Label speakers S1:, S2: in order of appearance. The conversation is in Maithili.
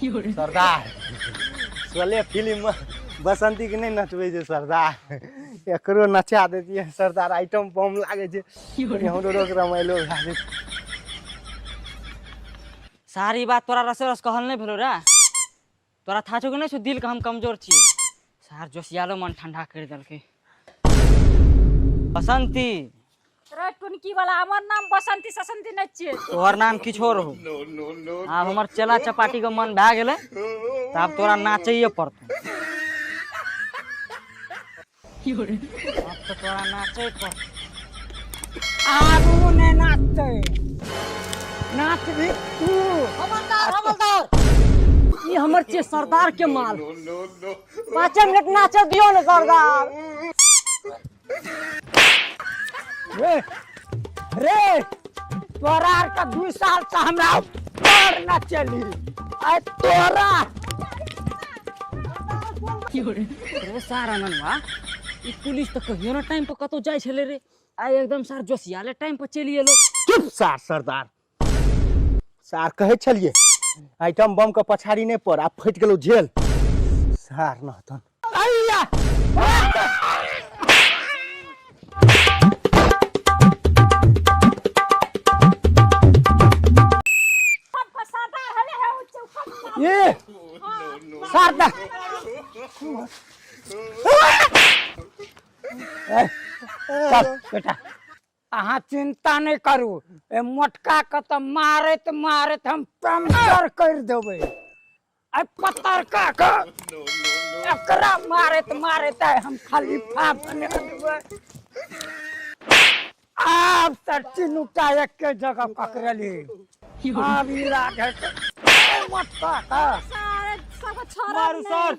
S1: सरदार सोले फिल्ममे बसंतीके नहि नचबै छै सरदार एकरो नचा देतियै सरदार आइटम बम लागै छै हमरो रोक रमाइलो भए जेतै सारी बात तोरा रसे रस कहल नहि भेलो रे तोरा था छौ कि नहि छौ दिलके हम कमजोर छियै सार जोशियालो मन ठंडा करि देलकै बसंती रे टुनकी वाला हमर नाम बसंती ससंती नै छियै तोहर नाम किछो रहू आब हमर चेला चपाटी के मन भए गेलै तऽ आब तोरा नाचैए पड़तौ आब तऽ तोरा नाचै पड़तौ आब ओ नहि नाचतै नाच भी तू हवलदार हवलदार ई हमर छियै सरदार के माल पाँचे मिनट नाचऽ दियौ ने सरदार रे रे तोरा आर का दू साल से हमरा ऊपर न चली आ तोरा रे सारा ननवा ई पुलिस तो कहियो ना टाइम पर कतो जाय छले रे आ एकदम सार जोसियाले टाइम पर चली एलो चुप सार सरदार सार कहै छलियै आइटम बम के पछाड़ी नहि पड़ आब फटि गेलौ झेल सार नहतन ए सार दा ए, चल बेटा अहाँ चिंता नहि करू ए मोटका के तऽ मारैत मारैत हम पंचर कर देबै आ पतरका के एकरा मारैत मारैत आइ हम खलीफा बना देबै आब तऽ तीनूटा एके जगह पकड़ली आब ई राधे के ए मोटका के सारे सब छोरा मारू सर